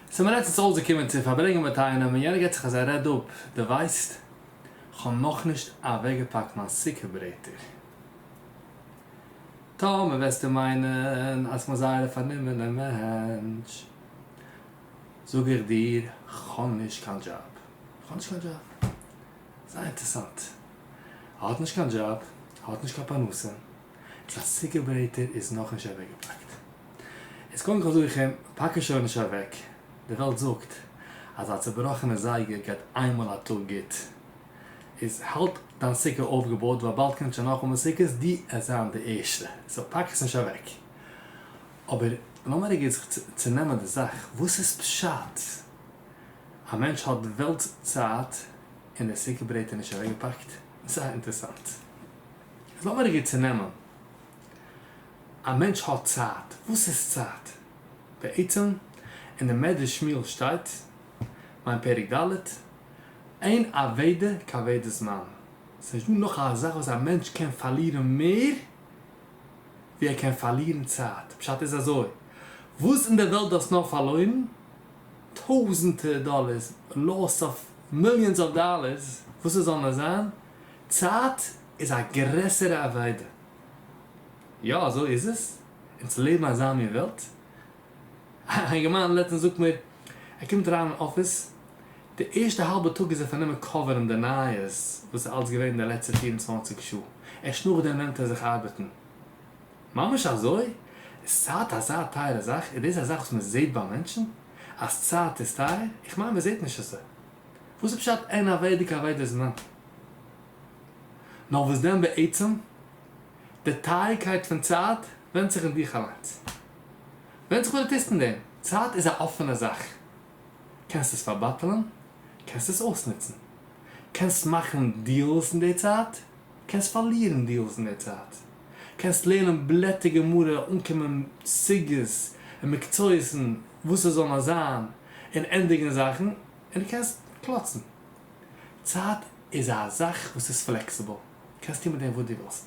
צו מדינת ישראל איז געקומען צו פארברענגען מיט איינעם און יענער געט זיך אז ער רעד אפ, דו ווייסט כ'האב נאכנישט אוועקגעפאקט מיין סוכה ברעטער. טאמער וועסטו מיינען אז כ'בין זייער א פארנומענע מענטש זאג איך דיר כ'האב נישט קיין דזשאב. כ'האב נישט קיין דזשאב. זייער אינטערעסאנט. ער האט נישט קיין דזשאב, ער האט נישט קיין פרנסה. א סיגעברעטער איז נאכנישט אוועקגעפאקט. איז קודם כל זאג איך אים, פאק עס שוין נישט אוועק, די וועלט זאגט אז א צובראכענע זייגער גייט איינמאל א טאג גוט. איז האלט דיין סוכה אויפגעבויט ווייל באלד קומט שוין נאכאמאל סוכות, דו עסט זיין די ערשטע, סאו פאק עס נישט אוועק. אבער לאמיר רגע זיך צונעמען די זאך, וואס איז פשט א מענטש האט די וועלטס צייט און די סוכה ברעטער נישט אוועקגעפאקט? זייער אינטערעסאנט. איז לאמיר רגע צונעמען, א מענטש האט צייט, וואס איז צייט? בעצם אין די מדרש שמואל שטייט, מיין פרק ד', אין אבידה כאבידה זמן, ס'נישט דא נאך א זאך וואס א מענטש קען פארלירן מער ווי ער קען פארלירן צייט, פשט איז אזוי, וואס אין די וועלט דו האסט נאר פארלוירן, טויזענטער דאלערס, לאס אוו מיליאנס אוו דאלערס, וואס עס זאל נאר זיין, צייט איז א גרעסערע אבידה. יא אזוי איז עס, אונז לעבן אזא מין וועלט. א אינגערמאן לעצטנס זאגט מיר, ער קומט אריין אין אפיס, די ערשטע האלבע טאג איז ער פארנומען קאווערן די נייעס וואס איז אלץ געווען די לעצטע פֿיר און צוואַנציק שעה, ערשט נאכדעם נעמט ער זיך ארבעטן. ממש אזוי? איז צייט אזא טייערע זאך? איז דאס א זאך וואס מען זעט ביי מענטשן? אז צייט איז טייער? איך מיין מען זעט נישט עס. וואס איז פשט אין אוועדיגע אוועדע זמן? נאר וואס דען בעצם? די טייערקייט פון צייט ווענדט זיך אין דיך אליינס. ווענדט זיך וואס דו טוסט אין דעם. צייט איז א אפענע זאך. קענסט עס פארבאטעלען, קענסט עס אויסנוצן. קענסט מאכן דיעלס אין די צייט, קענסט פארלירן דיעלס אין די צייט. קענסט לערנען בלעטער גמרא, אנקומען סוגיות און מקצועות און וואס עס זאל נאר זיין. און ענדיגן זאכן און דו קענסט קלאצן. צייט איז א זאך וואס איז פלעקסיבל, דו קענסט טון מיט דעם וואס דו ווילסט.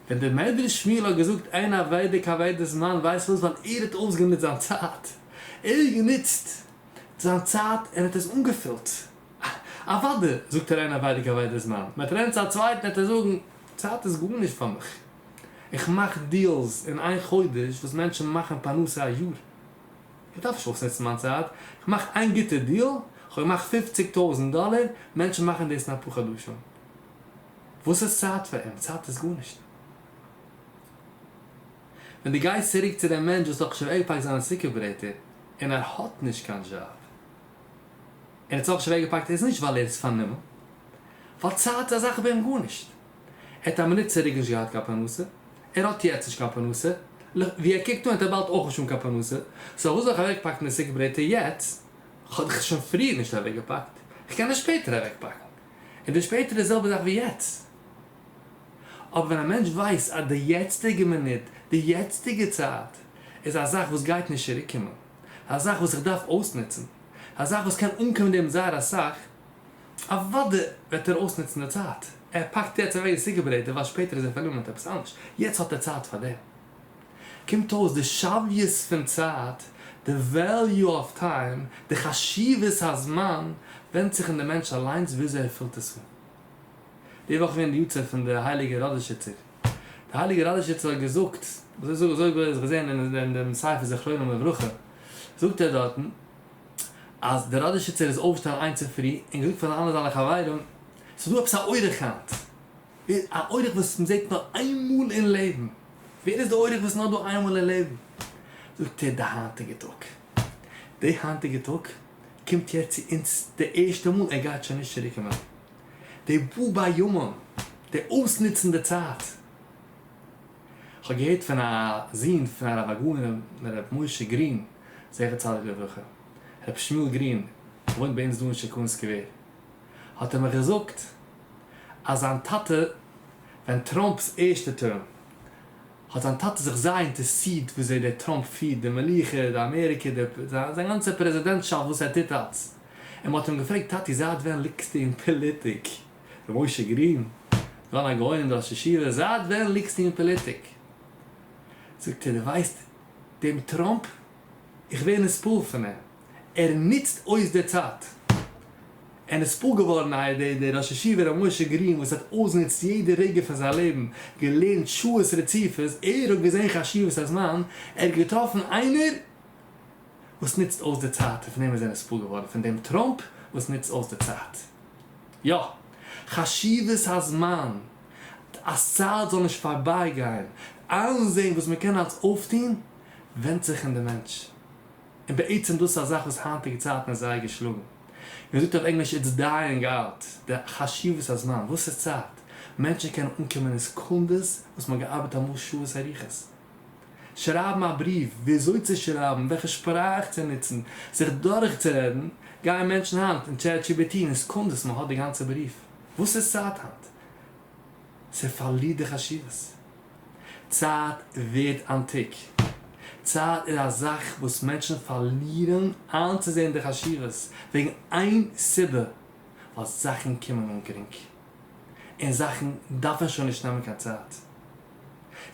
ווען דער מדרש שמואל האט געזאגט אין אבידה כאבידה זמן ווייסט וואס ווייל ער האט אויסגענוצט זיין צייט. ער האט גענוצט זיין צייט און האט עס אנגעפילט. אוודאי זאגט ער אין אבידה כאבידה זמן. ווען ער טרענט צו א צווייטן וועט ער זאגן צייט איז גארנישט פאר מיך, איך מאך דיעלס אין איין חודש וואס מענטשן מאכן פרנסה א יאר, איך דארף נישט אויסנוצן מיין צייט, איך מאך איין גוטע דיעל, איך האב געמאכט פופציג טויזנט דאלער, מענטשן מאכן דאס אין אפאר חדשים, וואס איז צייט פאר אים? צייט איז גארנישט. ווען דו גייסט צוריק צו דעם מענטש וואס האט שוין אויפגעהאקט זיינע סוכה ברעטער און ער האט נישט קיין דזשאב. ער האט זיך אויך שווער געפאקט איז נישט ווייל ער איז פארנומען, ווייל צייט איז א זאך ווערט גארנישט, ער האט א מינוט צוריק נישט געהאט קיין פרנסה, ער האט יעצט נישט קיין פרנסה, ווי ער קוקט אן וועט ער באלד אויך נישט האבן קיין פרנסה, סא פארוואס זאל איך אוועקפאקן די סוכות ברעטער יעצט, כ'האב דאך עס שוין פריער נישט אוועקגעפאקט, כ'קען עס שפעטער אוועקפאקן, און די שפעטער איז די זעלבע זאך ווי יעצט. אבער ווען א מענטש ווייסט אז די יעצטיגע מינוט, די יעצטיגע צייט, איז א זאך וואס גייט נישט צוריקקומען, א זאך וואס איך דארף אויסנוצן, א זאך וואס קען אנקומען דעם זייער אסאך, אוודאי וועט ער אויסנוצן די צייט, ער פאקט יעצט אוועק די סוכה ברעט דערווייל שפעטער איז ער פארנומען מיט עפעס אנדערש, יעצט האט ער צייט פאר דעם. קומט אויס די שוויות פון צייט, די וועליו אוו טיים, די חשיבות הזמן, ווענדט זיך אין די מענטש אליינס וויאזוי ער פילט עס אן. די וואך איז געווען די יארצייט פון די הייליגע ראדאשיצער. די הייליגע ראדאשיצער האט געזאגט, אזוי זאג אזוי האב איך געזען אין דעם ספר זכרונם לברכה, זאגט ער דארטן אז דער ראדאשיצער איז אויפגעשטאנען איין צופרי און געזאגט פאר די אלע זיינע חברים, ס'איז דא עפעס א אורח היינט, א אורח וואס מען זעט נאר איין מאל אין לעבן, ווער איז די אורח וואס איז נאר דא איין מאל אין לעבן? זאגט ער די היינטיגע טאג, די היינטיגע טאג קומט יעצט צו אונז די ערשטע מאל, ער גייט שוין נישט צוריק קומען. די בו ביומן, די אויסנוצן די צייט. כ'האב געהערט פון א זון פון הרב הגאון ר' משה גרין זכר צדיק לברכה, ר' שמואל גרין וואוינט ביי אונז דא אין שיכון סקווער, האט ער מיך געזאגט אז זיין טאטע ווען טראמפ'ס ערשטע טערם, האט זיין טאטע זיך זייער אינטערסירט וויאזוי דער טראמפ פירט די מלוכה, די אמעריקע, די, זיין גאנצע פרעזידענטשאפט וואס ער טוט אלץ. און מ'האט אים געפרעגט, טאטי זייט ווען ליגסטו אין פאליטיק? ר' משה גרין, גאון הגאונים און ראש ישיבה, זייט ווען ליגסטו אין פאליטיק? זאגט ער, דו ווייסט דעם טראמפ? איך ווער נספעל פון אים. ער נוצט אויס די צייט. ער איז פאר געווארן א די די ראש ישיבה ר' משה גרין וואס האט אויסגענוצט יעדע רגע פון זיין לעבן, געלערנט שעות רציפות, ער האט געזען חשיבות הזמן, ער האט געטראפן איינער וואס נוצט אויס די צייט און פון דעם איז ער נספּאר געווארן פון דעם טראמפּ וואס נוצט אויס די צייט. יא! חשיבות הזמן! אז צייט זאל נישט פארבייגיין, איינזען וואס מען קען אלץ אויפטון, ווענדט זיך אין די מענטש. און בעצם דאס איז א זאך וואס היינטיגע צייטן איז זייער געשלאגן. ווי מען זאגט אויף ענגליש איטס דייאינג אוט, די חשיבות הזמן, וואס איז צייט? מענטשן קענען אנקומען אין סעקונדעס וואס מען האט געארבעט אמאל שעות אריכות. שרייבן א בריוו, ווי אזוי צו שרייבן, וועלכע שפראך צו נוצן, זיך דורכצורעדן, גייען מענטשן היינט אין טשעט דזשי בי טי און אין סעקונדעס מען האט די גאנצע בריוו. וואס איז צייט היינט? ס'פארלירט די חשיבות. צייט ווערט אנטיק. צייט איז א זאך וואס מענטשן פארלירן איינצוזען די חשיבות וועגן איין סיבה, ווייל זאכן קומען אן גרינג, און זאכן דארפן שוין נישט נעמען קיין צייט.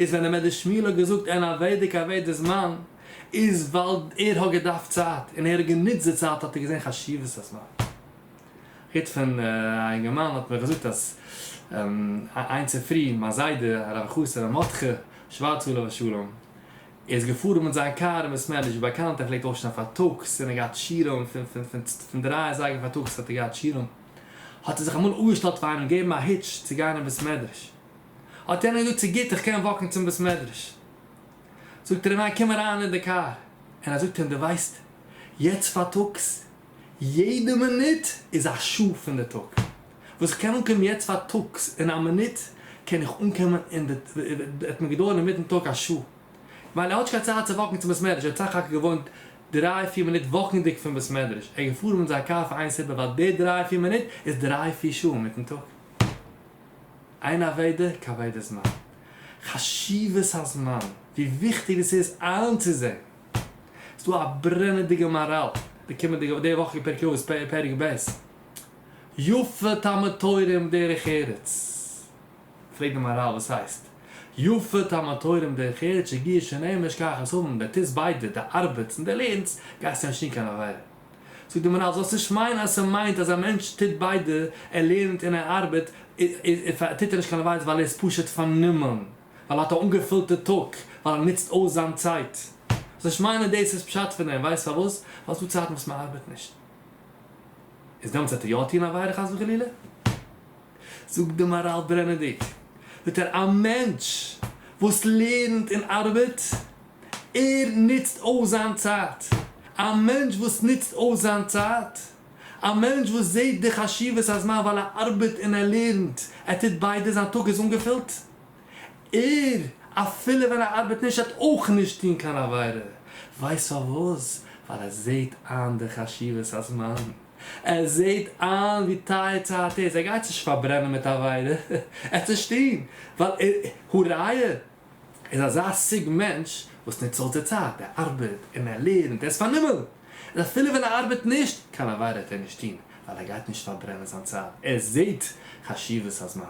איז ווען דער מעדער שמואל האט געזאגט אין א וועדיק א וועדער זמן, איז ווייל ער האט געדארפט צייט, און ער האט גענוצט די צייט האט ער געזען חשיבות הזמן. היט פון א אינגערמאן האט מיר געזאגט אז איין צופרי מיין זיידע הרב חוסה ר' מרדכי שווארץ עליו השלום איז געפארן מיט זיין קאר אין בית מעליש ווי באקאנט ער פלעגט אויפשטיין פארטאגס און ער געהאט שיעורים פון דריי אזייגער פארטאגס האט ער געהאט שיעורים האט ער זיך אמאל אפגעשטעלט פאר איינעם געבן א היטש צו גיין אין בית מדרש האט יענער געזאגט ס'איז גוט איך קען וואקן צום בית מדרש זאגט ער אים ניין קום אריין אין די קאר און ער זאגט אים דו ווייסט יעצט פארטאגס יעדע מינוט איז א שעה פון די טאג. וואס איך קען אנקומען יעצט פארטאגס אין א מינוט, קען איך אנקומען אין די, וועט מיר געדויערן אינמיטן טאג א שעה. ווייל ער האט נישט קיין צייט צו וואקן צום בית מדרש, ער האט סך הכל געוואוינט דריי פיר מינוט וואקנדיג פון בית מדרש, ער איז געפארן מיט זיין קאר פאר איין סיבה, ווייל די דריי פיר מינוט איז דריי פיר שעה אינמיטן טאג. איין אבידה כבידת זמן. חשיבות הזמן, ווי וויכטיג דאס איז איינצוזען. ס'איז דא א ברענעדיגע מאראל די קומענדיגע די וואך אין פרקי אבות פרק ב', יפה תלמוד תורה עם דרך ארץ, פרעגט די מאראל וואס הייסט יפה תלמוד תורה עם דרך ארץ שגיאה שנאה משכח את האבן, ווען די טוסט ביידע די ארבעטס און די לערנסט גייסטו נישט טון קיין עבירה, זאגט די מאראל זאלסט נישט מיינען אז ס'מיינט אז א מענטש טוט ביידע ער לערנט און ער ארבעט טוט ער נישט קיין עבירות ווייל ער איז פשוט פארנומען. ווייל ער האט א אנגעפולטע טאג ווייל ער נוצט אויס זיין צייט. זאל איך מיינען דאס איז פשט פון דעם? ווייסט פארוואס? ווייל ס'דא צייטן וואס מ'ארבעט נישט. איז דעמאלטס וועט ער יא טון עבירה חס וחלילה? זאגט די מאראל ברענעדיג ביטער א מענטש וואס לערנט און ארבעט, ער נוצט אויס זיין צייט. א מענטש וואס נוצט אויס זיין צייט, א מענטש וואס זעט די חשיבות הזמן ווייל ער ארבעט און ער לערנט, ער טוט ביידע, זיין טאג איז אנגעפולט. ער, אפילו ווען ער ארבעט נישט, וועט אויך נישט טון קיין עבירה. ווייסט פארוואס? ווייל ער זעט איין די חשיבות הזמן. ער זעט איין ווי טייער צייט איז. ער גייט נישט פארברענען מיט עבירה. ער וועט נישט טון. ווייל ער, הראיה, איז אזא סוג מענטש וואס נוצט אויס די צייט. ער ארבעט און ער לערנט. ער איז פארנומען. און אפילו ווען ער ארבעט נישט, קיין עבירה וועט ער נישט טון. ווייל ער גייט נישט פארברענען זיין צייט. ער זעט חשיבות הזמן.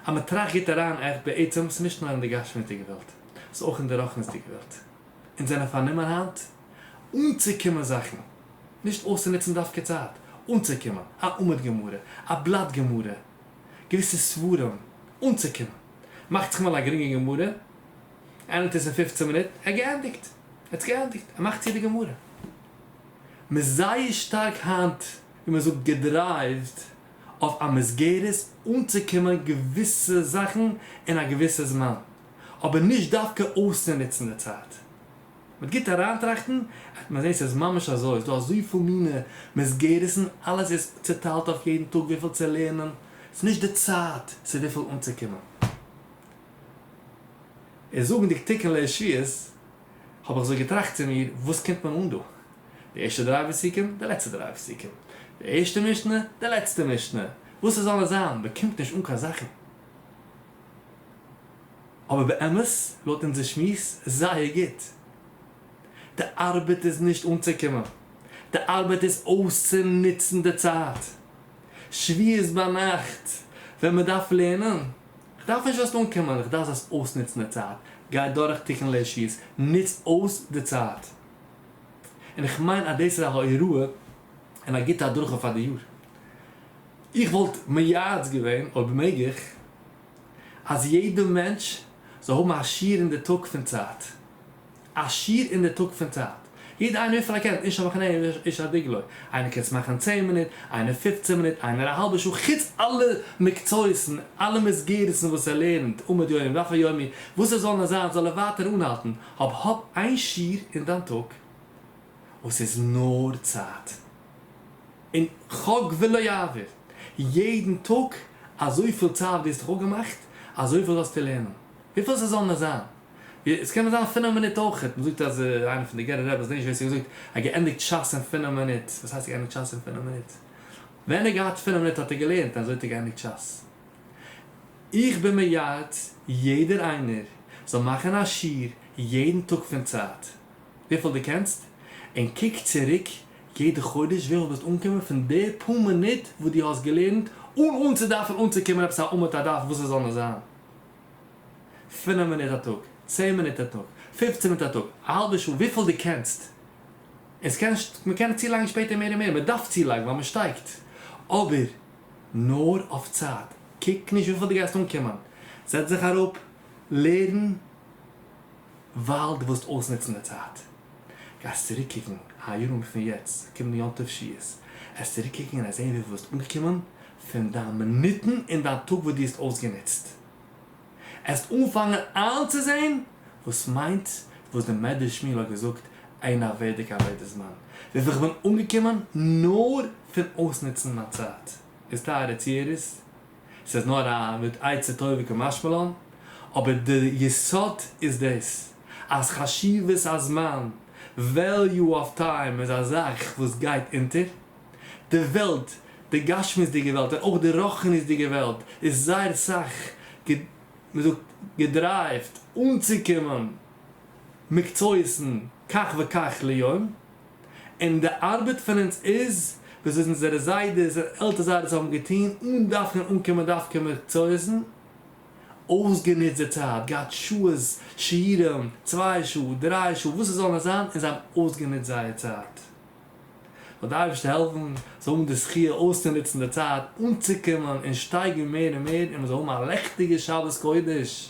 אז מען טראכט גוט אריין, עכ פ בעצם, ס'נישט נאר אין די גשמיות'דיגע וועלט, ס'איז אויך אין די רוחניות'דיגע וועלט. אונז זענען פארנומען היינט אנצוקומען זאכן, נישט אויסצונוצן דווקא צייט, אנצוקומען, א עמוד גמרא, א בלאט גמרא, געוויסע ספרים, אנצוקומען. מאכט זיך אמאל א גרינגע גמרא, ענדיגט עס אין פופצן מינוט, ער געענדיגט, ער האט עס געענדיגט, ער מאכט צו די גמרא. מ'איז זייער שטארק היינט, ווי מ'זאגט, געדרייווט. אויף א מסגרת אנצוקומען געוויסע זאכן אין א געוויסע זמן, אבער נישט דווקא אויסצונוצן די צייט. מיט גוט אריינטראכטן וועט מען זען ס'איז ממש אזוי, ס'איז דא אזויפיל מינע מסגרת'ן, אלעס איז צוטיילט אויף יעדן טאג וויפיל צו לערנען, ס'איז נישט די צייט צו וויפיל אנצוקומען. און זאגנדיג תיקון לעשיות. האב איך אזוי געטראכט צו מיר, וואס קומט מען אן דא? די ערשטע דריי פסוקים, די לעצטע דריי פסוקים. די ערשטע משנה, די לעצטע משנה. וואס ס'זאל עס זיין, מען קומט נישט אן קיין זאכן. אבער באמת, לויט אונזער שמועס, זייער גוט. די ארבעט איז נישט אנצוקומען. די ארבעט איז אויסצונוצן די צייט. שביעות ביינאכט, ווען מען דארף לערנען. כ'דארף נישט זאלסט אנקומען, איך דארף זאלסט אויסנוצן די צייט, גיי דורך תיקון לעשי'ס, נוץ אויס די צייט. און איך מיין אז דאס איז א הוראה און א גוטע הדרכה פאר די יאר. איך וואלט מייעץ געווען, אויב מעג איך, אז יעדע מענטש זאל האבן א שיעור אין די טאג פון צייט. א שיעור אין די טאג פון צייט. יעדער איינער וויפיל ער קען, איש על מחנהו איש על דגלו. איינער קען עס מאכן אין צען מינוט, איינער פופצען מינוט, איינער א האלבע שעה, חוץ אלע מקצועות און אלע מסגרת'ן וואס ער לערנט עמוד יומי ודף היומי, וואס עס זאל נאר זיין זאל ער ווייטער אנהאלטן, האב האב איין שיעור אין דיין טאג וואס איז נאר צייט. און חוג ולא יעבור, יעדן טאג אזויפיל צייט ווי עס האט זיך אפגעמאכט, אזויפיל זאלסטו לערנען. וויפיל ס'זאל נאר זיין. עס קען נאר זיין פינעף מינוט אויכעט, מען זאגט אז איינער פון די גערער רעבעס, כ'זעה נישט ווער ס'האט געזאגט, האט געענדיגט שס אין פינעף מינוט, וואס הייסט געענדיגט שס אין פינעף מינוט? ווען ער האט געהאט פינעף מינוט האט ער געלערנט און אזוי האט ער געענדיגט שס. איך בין מייעץ יעדער איינער זאל מאכן א שיעור יעדן טאג פון צייט וויפיל דו קענסט, און קוק צוריק יעדע חודש וויפיל ביסט אנגעקומען פון די פאר מינוט וואס דו האסט געלערנט אן אן צו דארפן אנצוקומען עפעס א אמתע דף וואס עס זאל נאר זיין. פֿינף מינוט א טאג, צען מינוט א טאג, פֿופֿצן מינוט א טאג, א האלבע שעה, וויפיל דו קענסט. און ס'קען, מ'קען צולייגן שפעטער מער און מער, מ'דארף צולייגן ווייל מ'שטייגט. אבער נאר אויף צייט. קוק נישט וויפיל דו גייסט אנקומען. זעץ זיך אראפ, לערן, ווייל דו ווילסט אויסנוצן די צייט. גייסט צוריק קוקן א יאר און פון יעצט, קומענדיגע יום טוב ש ס, עסט צוריק קוקן און עסט זען וויפיל דו ביסט אנגעקומען, פון דיין מינוטן אין דיין טאג וואס דו האסט אויסגענוצט. עסט אנפאנגען איינצוזעהן וואס מיינט וואס די מדרש שמיעל האט געזאגט אין א וועדיגע אבידה זמן, וויפיל איך בין אנגעקומען נאר פון אויסנוצן מיין צייט. איז טייערע צוהערערס, ס'איז נאר א מין עצה טובה כמשמע לן, אבער די יסוד איז דאס, אז חשיבות הזמן, וועליו אוו טיים, איז א זאך וואס גייט אונטער. די וועלט, די גשמיות'דיגע וועלט און אויך די רוחניות'דיגע וועלט איז זייער סאך מ'זאגט געדרייווט אנצוקומען מקצועות'ן כך וכך ליום, און די ארבעט פון אונז איז דאס וואס אונזערע זיידעס און עלטער זיידעס האבן געטון אן דארפן אנקומען דווקא מקצועות'ן, אויסגענוצט די צייט, געהאט שעות, שיעורים, צוויי שעה, דריי שעה, וואס עס זאל נאר זיין, און זיי האבן אויסגענוצט זייער צייט. זאל די אייבערשטער העלפן זאל האבן די זכי' אויסצונוצן די צייט אנצוקומען און שטייגן מער און מער און מען זאל האבן א לעכטיגע שבת קודש.